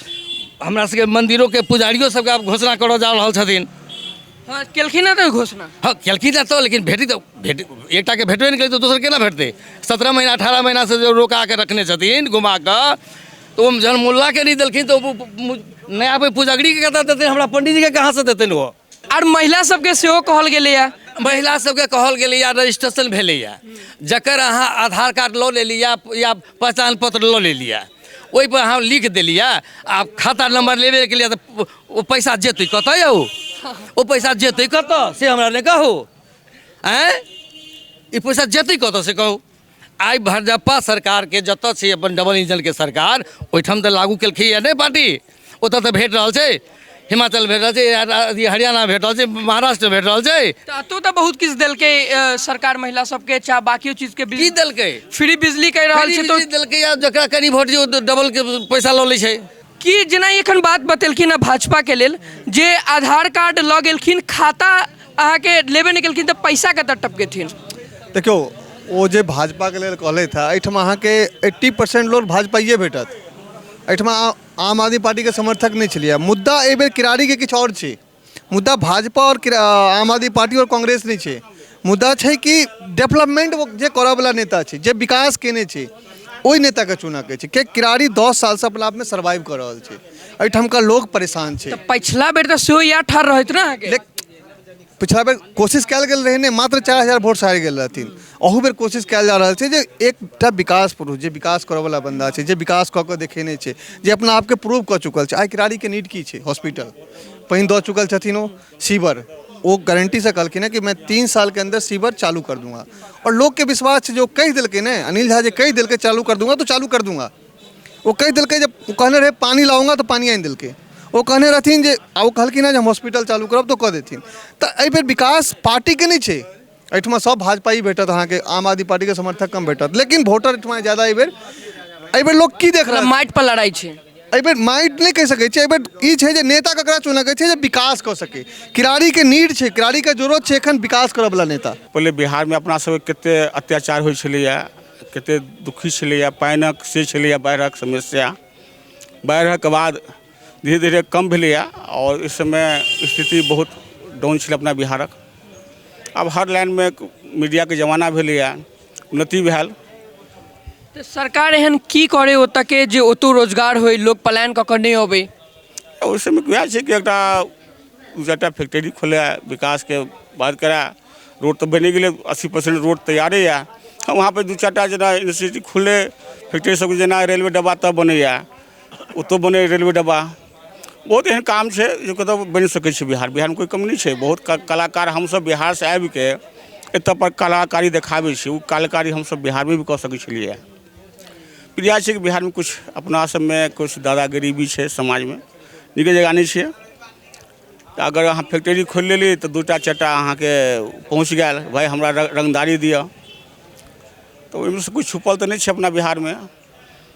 हमरा सबके मन्दिरोके पुजारियो सबके आब घोषणा करऽ जा रहल छथिन हँ केलखिन हँ तऽ घोषणा हँ केलखिन हँ तऽ लेकिन भेटी तऽ भेट एकटाके भेटबे नहि करै तऽ दोसर केना भेटतै सत्रह महीना अठारह महीनासँ जे रोका कऽ रखने छथिन घुमा कऽ तऽ ओ जहन मोल्लाके नहि देलखिन तऽ ओ नया कोइ पुजगरीके कतऽ देतै हमरा पंडीजीके कहाँसँ देतनि ओ आर महिला सबके सेहो कहल गेलैए महिला सबके कहल गेलैए रजिस्ट्रेशन भेलैए जकर अहाँ आधार कार्ड लऽ लेलिए या पहचान पत्र लऽ लेलिए ओहिपर अहाँ लिख देलिए आ खाता नम्बर लेबे के लिए तऽ ओ पैसा जेतै कतऽ यौ ओ पैसा जेतै कतऽ से हमरा नहि कहू आँय ई पैसा जेतै कतऽ से कहू आइ भाजपा सरकारके जतऽ छै अपन डबल इंजनके सरकार ओहिठाम तऽ लागू केलकै या नहि पार्टी ओतऽ तऽ भेट रहल छै हिमाचल भेट रहल छै या रा- अथी हरियाणा भेट रहल छै महाराष्ट्र भेट रहल छै तऽ एतौ तऽ बहुत किछु देलकै अ, सरकार महिला सबके चाहे बाकियो चीज के की बिल देलकै फ्री बिजली कहि रहल छै बिजली तऽ देलकै या जकरा कनि वोट दियौ डबल के पैसा लऽ लै छै कि जेना एखन बात बतेलखिन हँ भाजपाके लेल जे आधार कार्ड लऽ गेलखिन खाता अहाँके लेबे नहि केलखिन तऽ पैसा कतऽ टपकेथिन देखियौ ओ जे भाजपाके लेल कहलथि हँ एहिठाम अहाँके एट्टी परसेंट लोक भाजपाइए भेटत एहिठाम आम आदमी पार्टीके समर्थक नहि छलैए मुद्दा एहिबेर किरारीके किछु आओर छै मुदा भाजपा आओर क्र- अ, आम आदमी पार्टी आओर कांग्रेस नहि छै मुदा छै कि डेवलपमेंट ओ जे करऽवला नेता छै जे विकास केने छै ओहि नेताके चुनऽके छै किएक किरारी दस सालसँ अपना आपमे सर्वाइव कऽ रहल छै एहिठामका लोक परेशान छै पछिला बेर तऽ सेहो इएह ठार रहैत ने अहाँके लेक- पिछला बेर कोशिश कयल गेल रहै ने मात्र चारि हजार वोट से हारि गेल रहथिन अहू बेर कोशिश कयल जा रहल छै जे एकटा विकास पुरुष जे विकास करऽवला बन्दा छै जे विकास कऽ कऽ देखेने छै जे अपना आपके प्रूव कऽ चुकल छै आइ किरारीके नीड की छै हॉस्पिटल पानि दऽ चुकल छथिन ओ सीवर ओ गारंटीसँ कहलखिन हँ कि मैं तीन सालके अन्दर सीवर चालू कर दूंगा आओर लोकके विश्वास छै जे ओ कहि देलकै ने अनिल झा जे कहि देलकै चालू कर दूंगा तो चालू कर दूंगा ओ कहि देलकै जे ओ कहने रहै पानि लाऊंगा तऽ पानि आनि देलकै ओ कहने रहथिन जे आ ओ कहलखिन हँ जे हम हॉस्पिटल चालू करब तऽ ओ कऽ देथिन तऽ एहिबेर विकास पार्टीके नहि छै एहिठमा सब भाजपा ही भेटत अहाँके आम आदमी पार्टी के समर्थक कम भेटत लेकिन वोटर एहिठमा ज्यादा एहि बेर एहि बेर लोग की देख रहल मतलब माटि पर लड़ाई छै एहि बेर माइट नहि कहि सकैत छै एहि बेर ई छै जे नेता ककरा चुनऽ के छै जे विकास कऽ सके किरारी के नीड छै किरारी के जरूरत छै एखन विकास करऽ वाला नेता पहिले बिहारमे अपना सबके कते अत्याचार होइ छलैए कते दुखी छलैए पानिक से छलैए बाढ़िक समस्या बाढ़िक बाद धीरे धीरे कम भेलैए आओर इस समय स्थिति बहुत डाउन छलै अपना बिहारक आब हर लाइनमे मीडियाके जमाना भेलैए उन्नति भेल तऽ सरकार एहन की करे ओतऽके जे ओतौ रोजगार होय लोक पलायन कऽ कऽ नहि अबै आ ओहि समय वएह छै कि एकटा दू चारिटा फैक्ट्री खोलए विकासके बात करए रोड तऽ बनि गेलै अस्सी परसेंट रोड तैयारे यए आ वहाँपर दू चारिटा जेना यूनिवर्सिटी खुललै फैक्ट्री सब जेना रेलवे डब्बा तब बनैए ओतौ बनै रेलवे डब्बा बहुत एहन काम छै जे कतौ बनि सकै छै बिहार बिहारमे कोइ कमी नहि छै बहुत क- कलाकार हमसभ बिहारसँ आबि कऽ एतऽ पर कलाकारी देखाबै छी ओ कलाकारी हमसभ बिहारमे भी कऽ सकै छलियै प्रिया छै कि बिहारमे किछु अपना सभमे किछु दादागिरी भी छै समाजमे नीके जगह नहि छै तऽ अगर अहाँ फैक्ट्री खोलि लेली तऽ दू टा चारि टा अहाँके पहुँच गेल भाय हमरा र- रंगदारी दिअ तऽ ओहिमे से किछु छुपल तऽ नहि छै अपना बिहारमे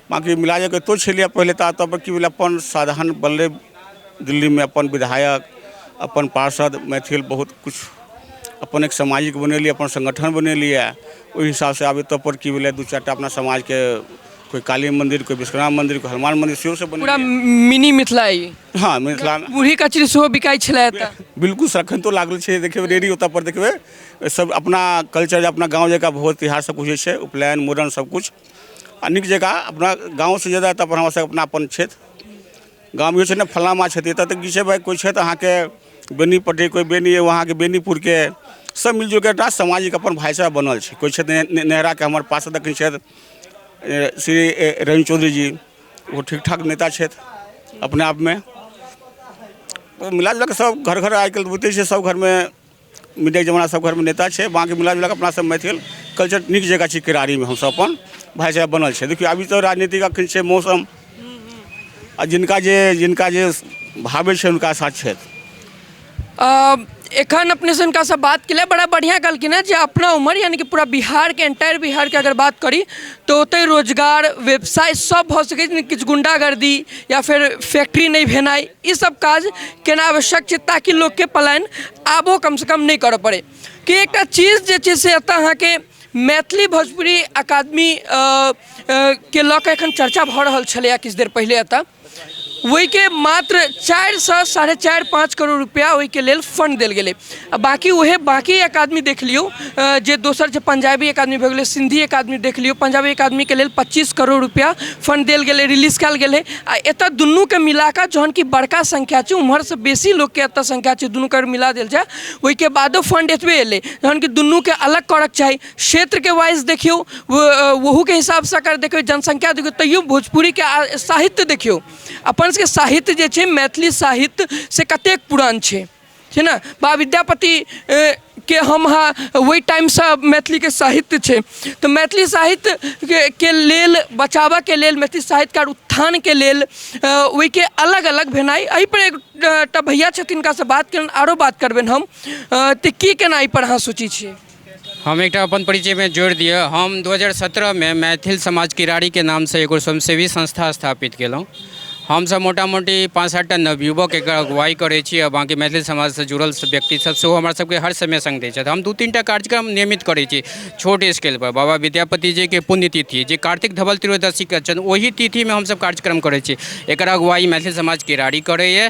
बाँकी मिला जुलाके एतौ छलैया पहिले तऽ एतऽ की भेलै अपन साधन बनलै दिल्लीमे अपन विधायक अपन पार्षद मैथिल बहुत किछु अपन एक सामाजिक बनेलियै अपन संगठन बनेलियै ओहि हिसाब से आब एतऽ पर की भेलै दू चारि टा अपना समाजके कोइ काली मन्दिर कोइ विश्वनाथ मन्दिर कोइ हनुमान मन्दिर सेहो सब पूरा बनेलियै मिनी मिथिला ई हँ मिथिला बूढ़ी कचरी सेहो बिकाइ छलै एतऽ बिल्कुल सर एखन तो लागल छै देखबै रेडी ओतऽ पर देखबै सब अपना कल्चर अपना गाँव जकाँ भोज तिहार सब किछु होइ छै उपनयन मूड़न सब किछु आ नीक जकाँ अपना गाँवसँ जादा तऽ हमरा सबके अपनापन छथि गाम ई छै ने फलना माँ छथि एतऽ तऽ की छै भाय कोइ छथि अहाँके बेनीपट्टी कोइ बेनी यऽ अहाँके बेनीपुरके सब मिल जुलिके एकटा सामाजिक अपन भाइचारा बनल छै कोइ छथि नेहराके हमर पार्षद एखन छथि श्री रवि चौधरी जी ओ ठीक ठाक नेता छथि अपने आपमे मिला जुलाके सब घर घर आइ काल्हि तऽ बुझिते छियै सब घरमे मिडियाके जमाना सब घरमे नेता छै बाँकी मिला जुलाके अपना सब मैथिल कल्चर नीक जकाँ छी किरारीमे हमसब अपन भाइ चारा बनल छै देखियौ अभी तऽ राजनीतिक अखन छै मौसम आ जिनका जे जिनका जे भाबै छै हुनका साथ छथि अ, एखन अपने से हुनका से बात केलिए बड़ा बढ़िया कहलखिन है जे अपना उम्र यानी कि पूरा बिहार के एंटायर बिहार के अगर बात करी तो ओतै रोजगार व्यवसाय सब भऽ सकै छै किछु गुंडागर्दी या फिर फैक्ट्री नहि भेनाइ ई सब काज केना आवश्यक छै ताकि लोकके पलायन आबो कमसँ कम नहि करऽ पड़ै कि एकटा चीज जे छै से एतऽ अहाँके मैथिली भोजपुरी अकादमी के लऽ कऽ एखन चर्चा भऽ रहल छलैए किछु देर पहिले एतऽ ओहिके मात्र चारिसँ साढ़े चारि पाँच करोड़ रुपैआ ओहिके लेल फण्ड देल गेलै आ बाकी उहे बाकी एक आदमी देख लियौ अ, जे दोसर जे पंजाबी एक आदमी भऽ गेलै सिंधी एक आदमी देख लियौ पंजाबी एक आदमीके लेल पच्चीस करोड़ रुपया फंड देल गेलै रिलीज कयल गेलै आ एतय दुनूके मिलाकऽ जहन कि बड़का संख्या छै उम्हरसँ बेसी लोकके एतय संख्या छै दुनूके अगर मिला देल जाय ओहिके बादो फंड एतबे एलै जहन कि दुनूके अलग करक चाही क्षेत्रके वाइज देखियौ वो- अ, ओहूके हिसाबसँ अगर देखियौ जनसंख्या देखियौ तैयो भोजपुरीके आ- साहित्य देखियौ अपन सबके साहित्य जे छै मैथिली साहित्य से कतेक पुरान छै छै ने बा विद्यापति के हम अहाँ ओहि टाइमसँ मैथिलीके साहित्य छै तऽ मैथिली साहित्यके लेल बचाबऽके लेल मैथिली साहित्यके उत्थानके लेल ओहिके अलग अलग भेनाइ एहि पर एकटा भैया छथिन हुनकासँ बात कयलहुँ आरो बात करबनि हम तऽ की केना एहि पर अहाँ सोचैत छियै हम एकटा अपन परिचयमे जोड़ि दिअ हम 2017मे मैथिल समाज किरारीके नामसँ एगो स्वयंसेवी संस्था स्थापित केलहुँ हमसभ मोटा मोटी पाँच सात टा नवयुवक एकर अगुवाइ करै छी आ बाँकी मैथिल समाजसँ जुड़ल व्यक्तिसभ सेहो हमरा सभके हर समय सङ्ग दै छथि हम दू तीन टा कार्यक्रम नियमित करै छी छोट स्केलपर बाबा विद्यापति जीके पुण्यतिथि जे कार्तिक धवल त्रयोदशीके छनि ओहि तिथिमे हमसभ कार्यक्रम करै छी एकर अगुवाइ मैथिल समाज किरारी करैए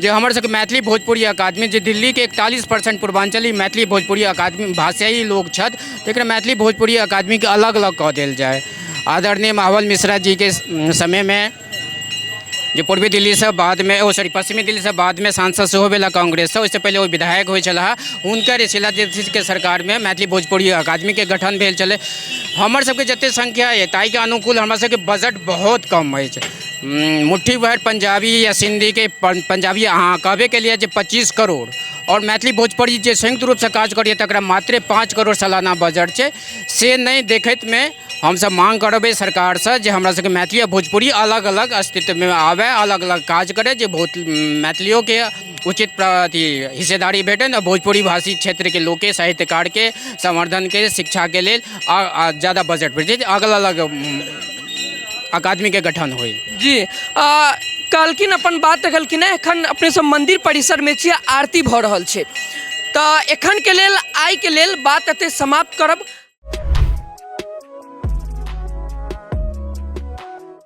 जे हमर सबके मैथिली भोजपुरी अकादमी जे दिल्लीके एकतालीस परसेंट पूर्वाञ्चली मैथिली भोजपुरी अकादमी भाषायी लोक छथि तकरा मैथिली भोजपुरी अकादमीके अलग अलग कऽ देल जाय आदरणीय महाबल मिश्रा जीके समयमे जे पूर्वी दिल्लीसँ बादमे ओ सॉरी पश्चिमी दिल्लीसँ बादमे सांसद सेहो भेला कांग्रेससँ ओहिसँ पहिले ओ विधायक होइ छलाह हुनकर शिला दीक्षितके सरकारमे मैथिली भोजपुरी अकादमीके गठन भेल छलै हमर सबके जतेक संख्या यऽ ताहिके अनुकूल हमरा सबके बजट बहुत कम अछि मुट्ठी भर पंजाबी या सिंधी के पंजाबी अहाँ कहबे के लिए जे पच्चीस करोड़ और मैथिली भोजपुरी जे संयुक्त रूप से काज करिए तकरा मात्रे पाँच करोड़ सालाना बजट छै से नहि देखैत मे हमसब माँग करबै सरकार से जे हमरा सबके मैथिली आ भोजपुरी अलग अलग अस्तित्व मे आबए अलग अलग काज करै जे बहुत मैथिलियो के उचित प्र अथी हिस्सेदारी भेटनि आ भोजपुरी भाषी क्षेत्र के लोक के साहित्यकार के संवर्धन के शिक्षा के लेल आ आ जादा बजट भेटै जे अलग अलग अकादमी के गठन हुई जी आ, कहलखिन अपन बात रखलखिन है एखन अपने सब मंदिर परिसर में छियै आरती भऽ रहल छै तऽ एखन के लेल आइ के लेल बात एते समाप्त करब